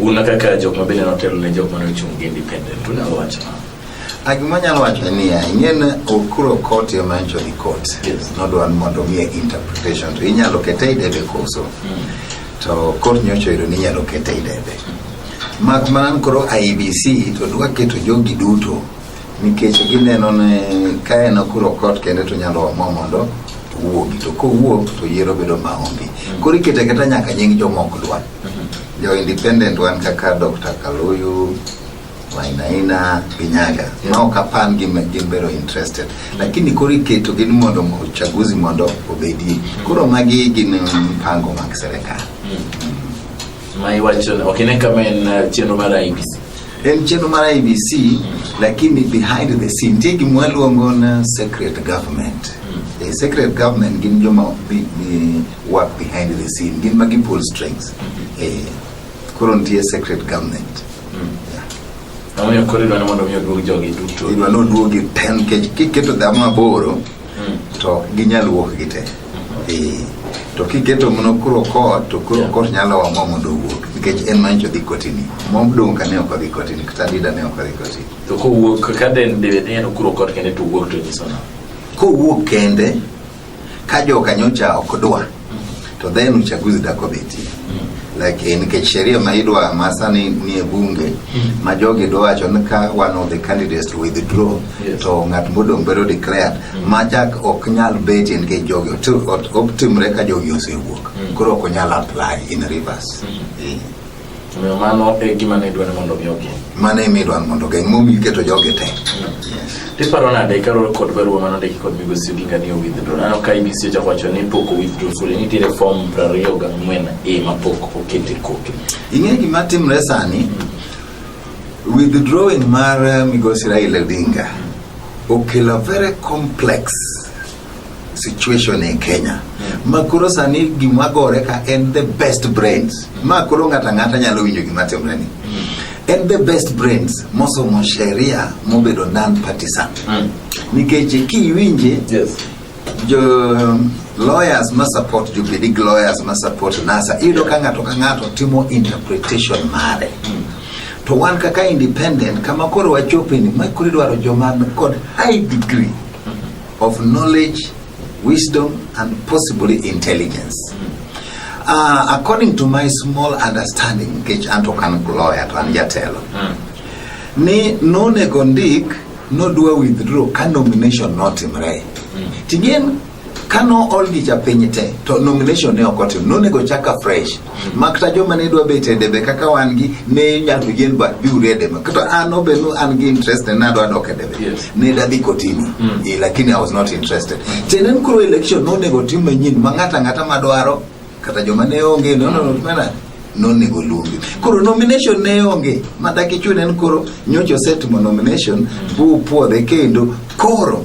Una kaka jok ma bende notelo ne jok mane ochung' gi independent, unyalo wacho nang'o? Ah, Gima anyalo wacho en niya, ing'eni okuro court ema ncho ni court. Yes. Nodwa ni mondo omiye interpretation to inyalo kete e debe koso. To court nyocha oyudo ni inyalo kete e debe. Mak mana ni koro IEBC to dwa keto jogi duto nikech gineno ni ka en okuro court kende to nyalo omo mondo owuogi to kowuok to yiero bedo maonge. Koro ikete keta nyaka nying jomok dwa. Jo independent wan kaka Dr. Kaluyu, Wainaina, Ginyaga. Ma ok apan gi gin bero interested. Lakini koro iketo gin mondo uchaguzi mondo obedie. Koro magi gin mpango mag serikal. Ma iwacho ni ok ine kama en uh, chenro mar IEBC. En chenro mar IEBC lakini behind the scene nitie gima waluongo na secret government. E, secret government gin joma bi- bi- work behind the scene gin magi pull strings eh, koro nitie secret government Omiyo koro idwa ni mondo mi oduog jogi duto. idwa ni oduogi te nikech kiketo dhamo aboro Mm. to ok ginyal wuok gi te Eh, to kiketo mno kuro kot to kuro Yeah. kot nyalo wa mo mondo owuok nikech en manyicho dhi kotini mom dong' ka ne ok odhi kotini kata dida ne ok odhi kotini To kowuok ka den debe ni en okuro kot kende to wuok to nyiso na. kowuok kende Ka joka nyocha ok dwa to then uchaguzi da komiti like eh, nikech sheria ma idwa ma sani ni e bunge hmm. ma jogi dwa wacho ni ka one of the candidates to withdraw yes. to ng'at modong' bedo declared mm. ma chak ok nyal beti nikech jogi otimre ka jogi osewuok mm. koro ok onyal apply in reverse mm. yeah. Omiyo mano e gima ne idwaro mondo mi ogeng'. Mano e midwaro mondo ogeng' momiyo iketo jogi te. Tiparo nade kaluwore kod barua mane ondiki kod migosi Odinga ni owithdraw? Aneno ka IBC ochako wacho ni pok owithdraw fully, nitiere fom piero ariyo gang'wen e ma pok oket e kopi. Ing'e gima timre sani, withdrawing mar eh, migosi Raila Odinga okelo a very complex situation in Kenya hmm. ma koro sani gima gore ka en the best brains hmm. ma koro ng'ato ang'ata nyalo winjo gima timre ni hmm. en the best brains mosomo sheria mobedo non partisan nikech kiwinje yes. jo lawyers ma support jubilee lawyers ma support nasa iyudo ka ng'ato ka ng'ato timo interpretation mare to wan kaka independent kama koro wachope ni ma koro idwaro joma kod high degree of knowledge, wisdom, and possibly intelligence. Uh, according to my small understanding, which anto kan lawyer to an jatelo, mm. ni nonego ndik nodwa withdraw ka nomination notimre. Mm. Tigen kano oldicha piny te to nomination ne ok otim nonego chaka fresh makta joma ne dwa bet e debe kaka wan gi ne nyato yien ba biuru e debe kata an obenu an gi interest ne adwa dok e debe Yes. ne dadhi kotini Mm. Eh, lakini i was not interested tiende ni koro election nonego tim manyien ma ng'ato ang'ata madwaro kata joma ne onge no no no mana nonego luongi koro nomination ne onge ma dakichune ni koro nyocha osetimo nomination bu puodhe kendo koro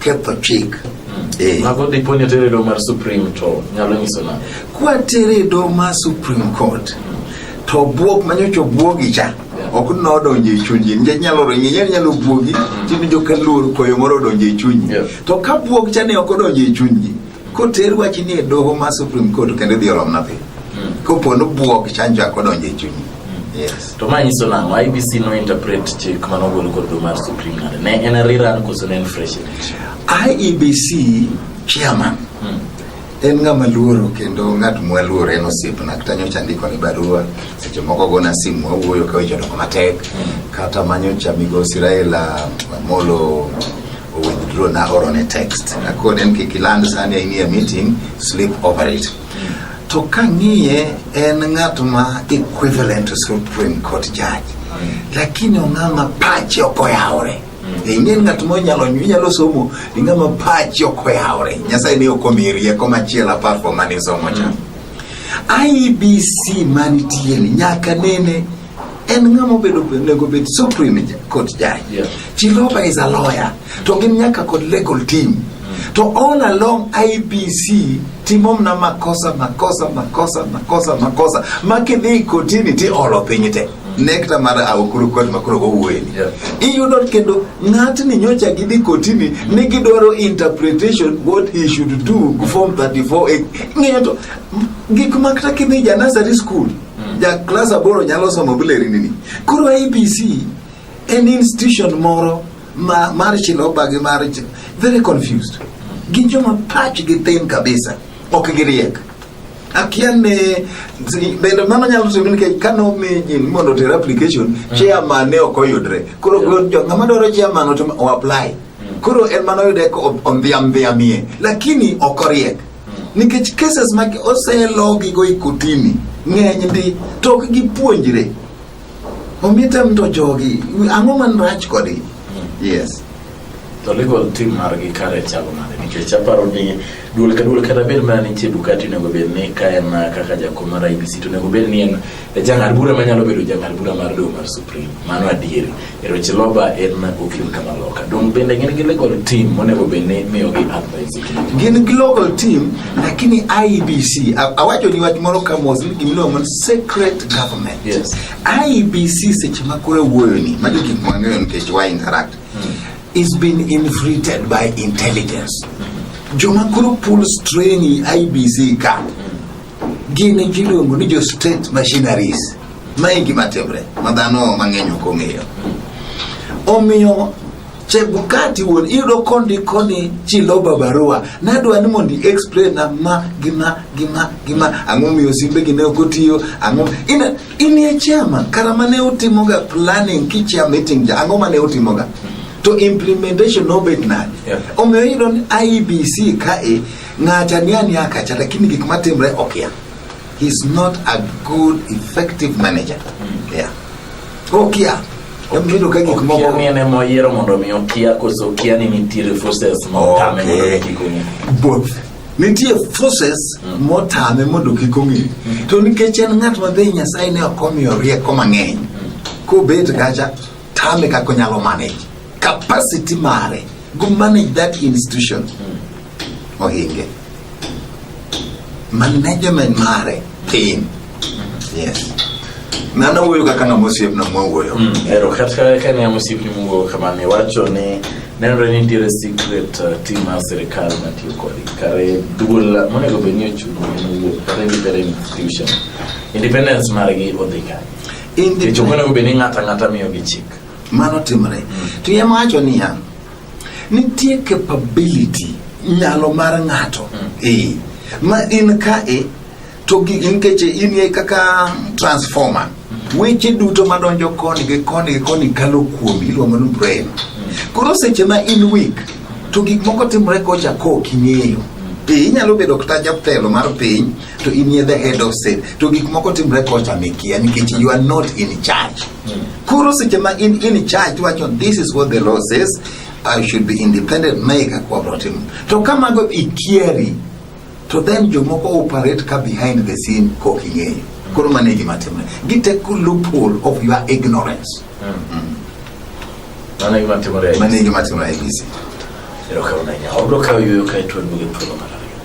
ketho chik Eh. Mago dipo ni tere do mar Supreme to nyalo nyiso na. Kwa tere do mar Supreme Court to buok manyocho buogi cha ok nodonjo e chunyi nikech nyalo ringi nyalo nyalo buogi mm. timijo ka luor koyo moro odonjo e chunyi to ka buok cha ne ok odonjo e chunyi Koter wach ni e doho ma Supreme Court kendo idhi oromna piny. Hmm. Kopo ni bwok chanjo ako donjo e chunyi. Hmm. Yes. To ma nyiso nang'o IBC no interpret chik mano golo kod do mar Supreme Court. Ne en rerun koso ne en fresh election. IEBC chairman hmm. en ng'ama luoro kendo ng'at mwaluoro en osiepna kata nyocha ndiko ni barua seche moko gona simu wawuoyo ka weche odoko matek kata manyocha migosi Raila Amolo withdraw na oro ne text akone ni kik iland sani in a meeting sleep over it to kang'iye en ng'at ma equivalent to supreme court judge lakini ong'ama pache ok oyawore ing'e ng'at monyalo inyalo somo ing'ama pache ok oyawore nyasaye ne ok omiyi rieko machielo apart from mane isomo cha IEBC manitieni nyaka nene en ng'ama obedo onego bed supreme court judge yeah. Chiloba is a lawyer to gin nyaka kod legal team mm. to all along IBC timo mna makosa makosa makosa makosa makosa makidhi kotini ti olo piny te mm. nekta mar awokuru kot makoro gowuoyeni yeah. iyudo kendo ng'atni nyocha gidhi kotini mm. ni gidwaro interpretation what he should do form 34 ng'eto gik makta kidhi ja nursery school mm. Hmm. Ja klas aboro nyalo somo buleri nini. Koro ABC en institution moro ma mar chiloba gi mar very confused. Hmm. Gin joma pach gi tin kabisa. Ok giriek. akia ne bende mano nyalo timo nikech ka nomi jin mondo oter application mm. chairman ne ok oyudre koro ng'ama dwaro chairman o apply mm. koro en mano yude ondhiamdhiamie lakini ok oriek nikech cases mag oselogi go ikotini ng'eny ndi to ok gipuonjre omite mto jogi ang'o man rach kodgi hmm. yes to legal team margi kare chalo nade nikech aparo ni duol ka duol kata bed mana nitie dukati onego bed ni ka en kaka jakom mar ibc to onego bed ni en jang'ad bura manyalo bedo jang'ad bura mar doho mar supreme mano adieri E weche loba en okil kama loka dong bende gin gi legal team monego bed ni miyogi advice gin gi local team lakini IBC a- awacho ni wach moro ka mos ni gimiluongo man secret government Yes. IBC seche ma koro wuoyo ni magi gik mang'eyo nikech wa interact is been infiltrated by intelligence joma koro pull strain IBC ka Gin jiluongo ni jo state machineries. Ma e gima timre ma dhano mang'eny ok ong'eyo. Omiyo Chebukati wuon iyudo kondi koni chiloba barua nadwa ni mondo explain na ma gima gima gima ang'o miyo simbe gi ne ok otiyo ang'o in in ye chama kara mane utimoga planning kichia meeting ja ang'o mane utimoga to implementation nobet nade omiyo iyudo ni IBC kae Ng'acha ni ani akacha lakini gik matimre okia. He's not a good effective manager. Mm. Yeah. Okia. Okido ka gik moko. Okia ne mo yiero mondo mi okia koso okia ni nitiere forces mo tame mondo kik ong'e. Both. Nitie forces mm. mo tame mondo kik ong'e. Mm. To nikech en ng'at ma be Nyasaye ne ok omiyo rieko mang'eny. Mm. Kobet kacha tame kaka onyalo manage. Capacity mare. Go manage that institution. Mm. ohinge management mare tin yes nana wuoyo kaka ng'ama osiepna mwawuoyo mm. ero kata ka ne osiepni mwuoyo kamano iwacho ni nenore ni nitiere secret uh, team mar sirikal matiyo kodi kare duol monego bed ni ochungo mowuok kata independent institution independence margi odhi kanye kech ok onego bed ni ng'ato ang'ata miyogi chik mano timore mm. to yamawacho niya Nitie capability nyalo mar ng'ato mm. eh, ma in ka e to nikech in e kaka transformer mm. weche duto madonjo koni gi koni gi koni kalo kuomi iluongo ni brain mm. koro seche ma in weak to gik moko timore kocha kok ing'eyo piny nyalo bedo kata jatelo mar piny to in ye the head of state to gik moko timre kocha mikia nikech you are not in charge Koro seche ma in in charge wacho this is what the law says I should be independent make a cooperative. To kama go ikieri to then jomoko operate ka behind the scene kok ing'eyo. Koro mane gima timre. Gite ku loophole of your ignorance. Mm. Mane gima timre. Mane gima timre ABC. Ero kauna nya. Obro kayo kae to ndugu tulo mara.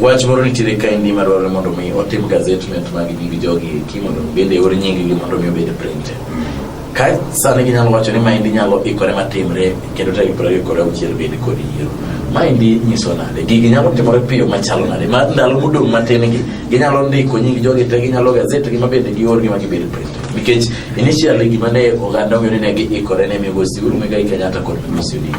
Wach moro nitiere kaendi ma dwarore mondo mi otim gazetment mag nying jogi eki mondo bende eor nyinggi mondo mi obed printed. Ka sani ginyalo wacho ni maendi nyalo ikore matimre kendo tarik piero ariyo kod auchiel bende kod yiero. Maendi nyiso nade? Gigi nyalo timore piyo machalo nade? Ma ndalo modong' matin gi ginyalo ndiko nying jogi te ginyalo gazet gi ma bende gior gi ma gibed printed. Nikech initially gima ne oganda ong'eyo ni ne giikore ne migosi Uhuru Muigai Kenyatta kod migosi Odinga.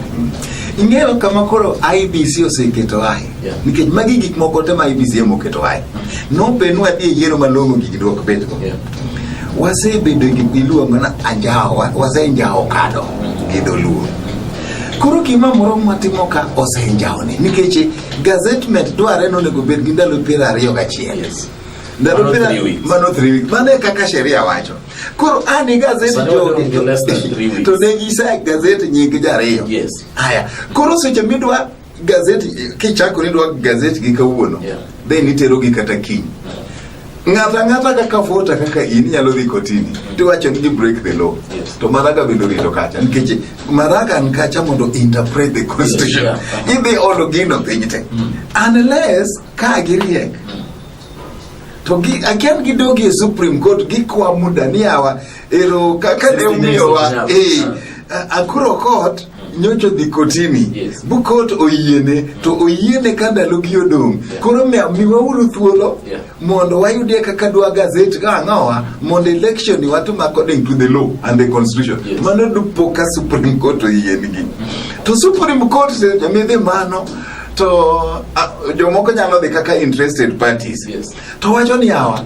Ing'eyo kama koro IBC oseketo ae. Nikech magi gik moko te ma IBCM oketo aye. Nope nwa dhi e yiero malong'o gigi dwok bedgo. Wasebedo gi iluongo na anjawo, wasenjawo kado gi dholuo. Koro gima moro mwatimo ka osenjawo ni nikech gazetment dwarre ni onego bed gi ndalo piero ariyo gachiel. Ndalo piero mano three weeks. Mano e kaka sheria wacho. Koro an e gazeti jogi to ne gisa gazeti nying jariyo. Haya, koro seche midwa Gazeti kichako ni dwa gazeti gi kawuono yeah. then itero gi kata kiny ng'ata ng'ata kaka vota kaka in inyalo dhi kotini tiwacho ni break the law yes. to maraga bende orito kacha nikech maraga an kacha mondo interpret the constitution yes, yeah. idhi olo gino piny te mm. unless ka giriek mm. to gi akian gidogi e supreme court gikwa muda ni awa ero kaka ne umiyowa eh akuro court nyocha odhi kotini yes. bukot oyiene to oyiene ka ndalogi odong' yeah. koro miwauru thuolo yeah. mondo wayudie kaka dwa gazet ka ang'owa mondo election ni watim according to the law and the constitution yes. mano dupo ka supreme court oyienigi to supreme court jamidhi mano to uh, jomoko nyalo dhi kaka interested parties yes. to wacho ni awa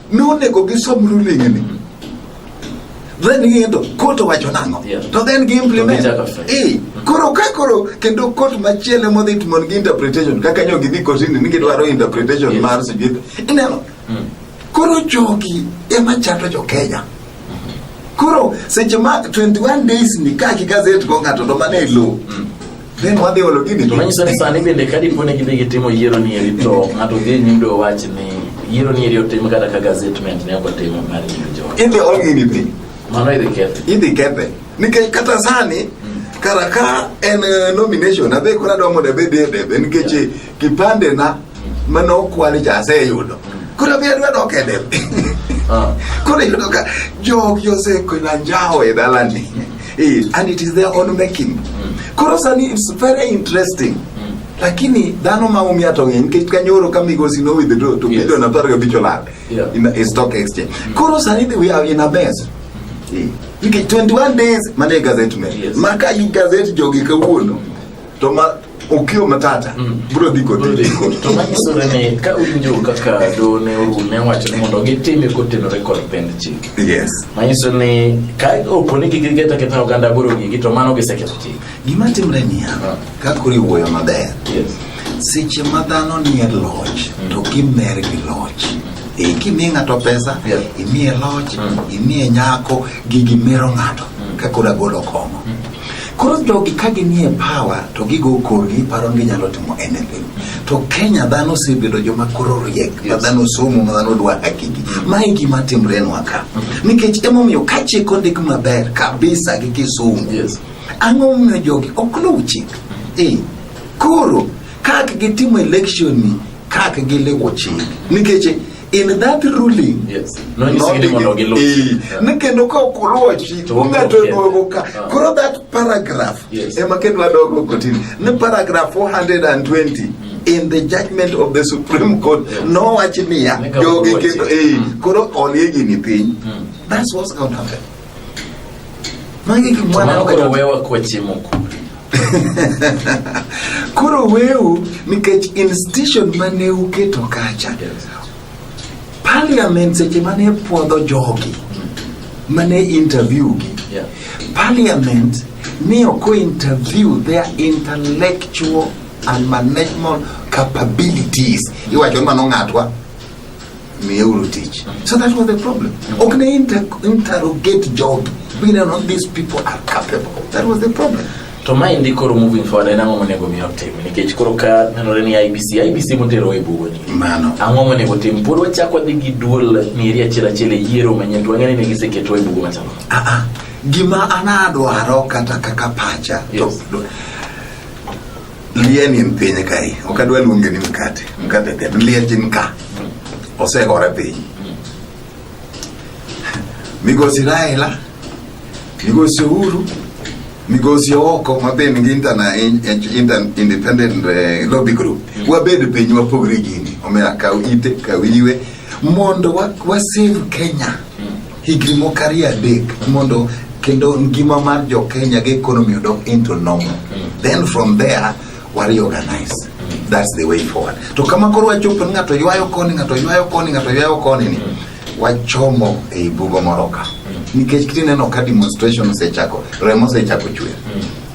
Nonego gisom ruling'ni. Then ging'eto kot owacho nang'o to then gi implement eh koro ka koro kendo kot machielo modhi timo gi interpretation kaka nyo gidhi kotini ni gidwaro interpretation mar sijui ineno hmm. koro jogi ema chando jo Kenya koro seche ma 21 days ni ka ki gazet go ng'ato to mane lo hmm. Then wadhi olo gini. To manyiso ni sani bende ka dipo ni gidhi gitimo yiero ni eri to ng'ato dhi nyimdo wach ni yiero ni eri otim kata ka gazetment ne ok otim mar yiero jo. Idhi ol gini dhi. Mano idhi kethe. Idhi kethe. Nikech kata sani hmm. kara ka en eh, nomination adhi kora domo debe debe nikech Kipande na mane okwal cha aseyudo. Koro mi adwa dok e del. Ah. Koro yudo ka jogi osekwela njawo e dalani. Eh, and it is their own making. Hmm. Koro sani it's very interesting. Hmm. Lakini dhano ma umia to ng'eny nikech kanyoro ka migosi no withdraw to yes. milion apar gabich olal yeah. in a stock exchange. Mm. Koro sani we are in a mess. Eh. Nikech 21 days mane gazette me. Yes. Maka i gazette jogi kawuono. To ma Okio Matata mm. bro dhi kod bro dhi kod to manyiso ni ka unjo kaka do ne oru ne wacho ni mondo gitime kotenore kod pend chik yes manyiso ni ka opo ni gigeta keta oganda boro gigi to mano giseketho chik gima timre niya ah. ka kuri wuoyo maber yes seche ma dhano nie loch mm. to kimer gi loch e eh, kimiye ng'ato pesa yes. imiye loch mm. imiye nyako gigi mero ng'ato mm. ka koro agolo kong'o mm. Koro jogi ka ginie power to gigo korgi paro ni ginyalo timo anything. To Kenya dhano osebedo joma koro riek, ma dhano osomo, ma dhano dwa hakigi. Mae e gima timrenwa ka. Mm-hmm. Nikech emomiyo ka chik ondik maber kabisa gi kisungu. Ang'o momiyo jogi ok luw chik? Eh, koro kak gitimo election ni kak giluwo chik. Nikech in that ruling Yes. No, you see, anyone will get lost. Eh, Yeah. ni kendo ka ok uluwo chik To ung'ato ok oduogo oduogo ka Ah. koro that paragraph Yes. ema kendo adogo kotini ni paragraph 420 in the judgment of the supreme court Yes. nowachi niya Nika jogi uluwo kendo chik. eh, Mm. koro olie gini piny Mm. that's what's going to happen Magi gik mwana Mano koro wewa kwachiemo kure. koro weu nikech institution mane uketo kacha parliament seche mane puodho jogi mane interview gi Yeah. parliament ne ok interview their intellectual and management capabilities iwacho ni mano ng'atwa miye uru tich so that was the problem ok ne inter interrogate jogi we know not these people are capable that was the problem to ma indi koro moving forward en ang'o monego mi otim nikech koro ka nenore ni ibc ibc motero e bugo ni mano ang'o monego tim pod wachak wadhi gi duol mieri achiel achiel e yiero manyien to wang'eni ne giseketo e bugo machalo ah, ah. gima anadwaro kata kaka pacha yes. to, Lieni en piny kae, ok adwa luonge ni mkate, mkate ken, liech en ka, osegore piny. Migosi Raila, migosi Uhuru, migosi oko mabende gi interna, inter, independent uh, lobby group, wabed piny wapogre gini, omiyo akaw ite, kaw iwe, mondo wasave wa Kenya higni mokari adek mondo kendo ngima mar jo Kenya gi economy odok into normal then from there wa reorganize that's the way forward to kama koro wachopo ni ng'ato ywayo koni ng'ato ywayo koni ng'ato ywayo koni ni wachomo ei bugo moro ka nikech kineno ka demonstration osechako remo osechako chwer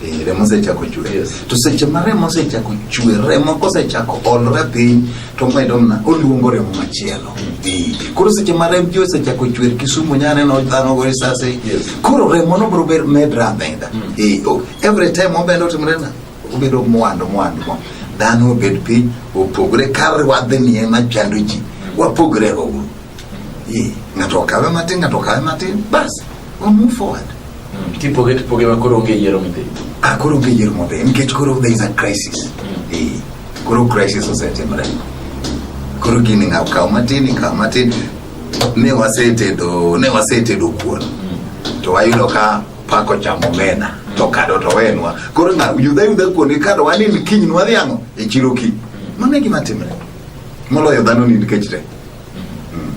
Eh, remo sechako chwer yes. to seche ma remo sechako chwer remo kosechako olre piny to medo mna oluongo remo machielo mm. koro seche ma rem ji osechako chwer kisumu nyaneno dhano go risase yes. koro remo no bro medra ameda mm. e, oh, every time obendo timrena obedo mwandu mwandu mo dhano obed piny opogre kar wadhni ema chando ji mm. wapogre go uru e, ng'ato okawe matin ng'ato okawe matin basi We'll move forward. Mm. Tipoge tipoge ma koro onge yiero midhi. Ah, koro onge yiero modhi. Nikech koro there is a crisis. Mm. Eh, koro crisis osetimore. Koro gini ng'aw kaw matin, ikaw matin. Ne wasetedo, ne wasetedo kuon. Mm. To wayudo ka pako chamo mena. Mm. To kado to wenwa. Koro ng'aw yudha yudha kuon gi kado wani ni kiny nwadhi ang'o? E chiro kiny. Mm. Mano e gima timre. Moloyo dhano ni nikech te. Hmm.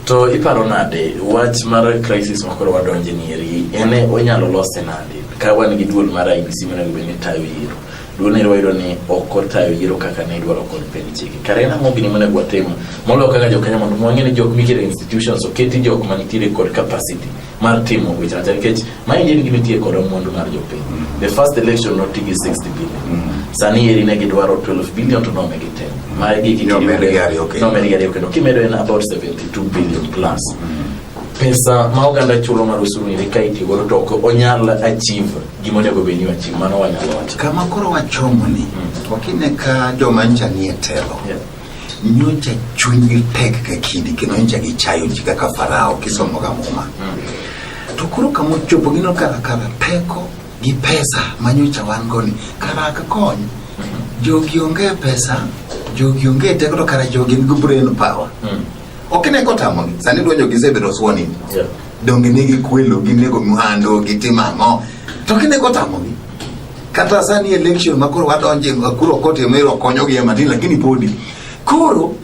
To iparo nade wach mar crisis ma koro wadonje ni eri en onyalo lose nade ka wan gi duol mar IBC mana gi bende tayo yiero duol ne wayudo ni ok otayo yiero kaka ne idwaro kod piny chike kare en ang'o gini mane gwatimo moloyo kaka jokenya mondo mwang'e ni jok mikire institutions oketi jok manitiere kod capacity mar timo weche acha nikech maendi en gima itiye kodo mwandu mar jopiny mm. the first election noti gi 60 billion mm. sani eri ne gidwaro 12 billion to nomegi ten mm. maegignomedi ariyo kendo kimedo en about 72 billion plus pesa ma oganda chulo mar usuru ni ka itiyo godo to ok onyal achieve gima onego bed ni achieve mano wanyalo wacho kama koro wachomo ni mm. okine ka joma ncha nie telo yeah. nyocha chunyi tek ka kidi kendo nyocha gichayo ji kaka farao kisomo ga muma mm. to koro kama ochopo gino kaka kara teko gi pesa ma nyocha wan go ni kara ak kony mm-hmm. jogi onge pesa jogi onge teko to kara jogi nigi brain power mm. ok ne kotamogi sani dwanjo gisebedo swoni yeah. donge ne gikwelo ginego mhando gitim ang'o to kine kotamogi Kata sani election ma koro wadonje kuro kote mero konyo gi matin lakini podi. Koro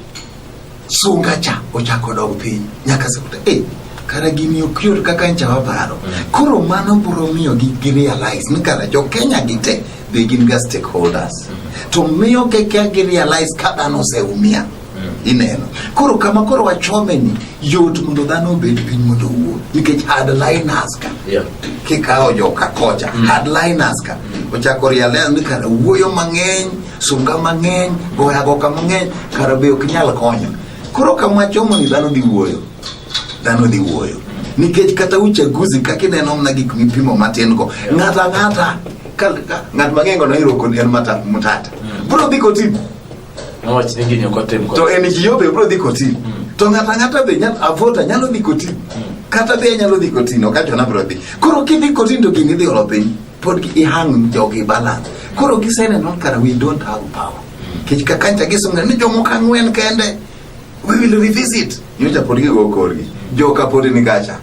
sunga cha ochako dog piny nyaka sekuta. Eh, kara gini ok yot kaka ncha waparo. Mm. Koro mano bro miyo gi, gi realize ni kara jo Kenya gite be gin ga stakeholders. Mm. To miyo keke gi realize ka dhano oseumia. Mm. ineno koro kama koro wachome ni yot mondo dhano obed piny mondo owuo nikech hardliners ka kikawo joka kocha mm. hardliners ka mm. ochako rialea ni kara wuoyo mang'eny sunga mang'eny goya goka mang'eny kara be ok nyal konyo koro kama wachomo ni dhano dhi wuoyo dhano dhi wuoyo nikech kata uchaguzi kaka ineno mna gik mipimo matin go ng'ato ang'ata ng'at mang'eny go noiroko en matata mm. bro dhi kotibu Wach ni gini ok otim To en ji yobe bro dhi koti. Hmm. To ng'ata ng'ata be nyal avota nyalo dhi koti. Hmm. Kata be nyalo dhi koti no kata na bro dhi. Koro ki dhi koti to gini dhi olo piny. Pod gi hang jogi balance. Koro gisene non kara we don't have power. Hmm. Kech kakancha gisunga ni jomoko ang'wen kende. We will revisit. Nyocha pod gigo korgi. Joka pod ni gacha.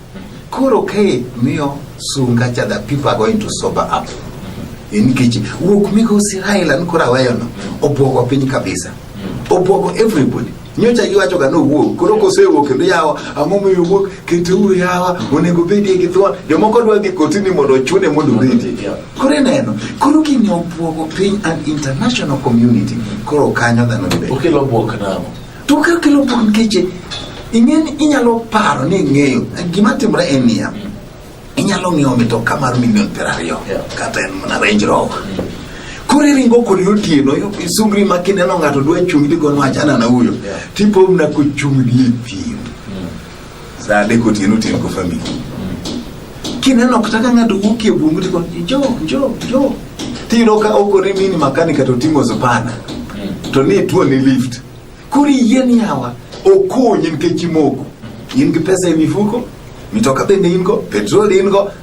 Koro kae miyo sunga cha the people are going to sober up. E nikech wuok migosi Raila ni koro aweyono obwogo piny kabisa. Obwogo everybody. nyocha iwacho ga nowuok koro kosewuok kendo yawa ang'o moyo wuok keturu yawa onego bedie gi thuon jomoko dwa dhi kotini mondo ochune mondo obedie Koro ineno, koro gini obwogo piny and international community, koro kanyo dhano be. Okelo bwok namo. To kaka kelo bwok nikech ing'eni inyalo paro ni ing'eyo gima timore en niya inyalo ng'iewo mitoka mar milion piero ariyo kata en mana Range Rover koro iringo kode otieno isungri ma kineno ng'ato dwa chung'ni go nwachana na huyo tipomna kochung'ni e thim saa adek otieno otieno go famili kineno kata ka ng'ato wuok e bungu tiko jo jo jo tiyudo ka okore mini makani kata oting'o zupana hmm. to ni tuo ni lift koro yien yawa okonyi nikech imoko in gi pesa e mifuko mitoka bende in go petrol in go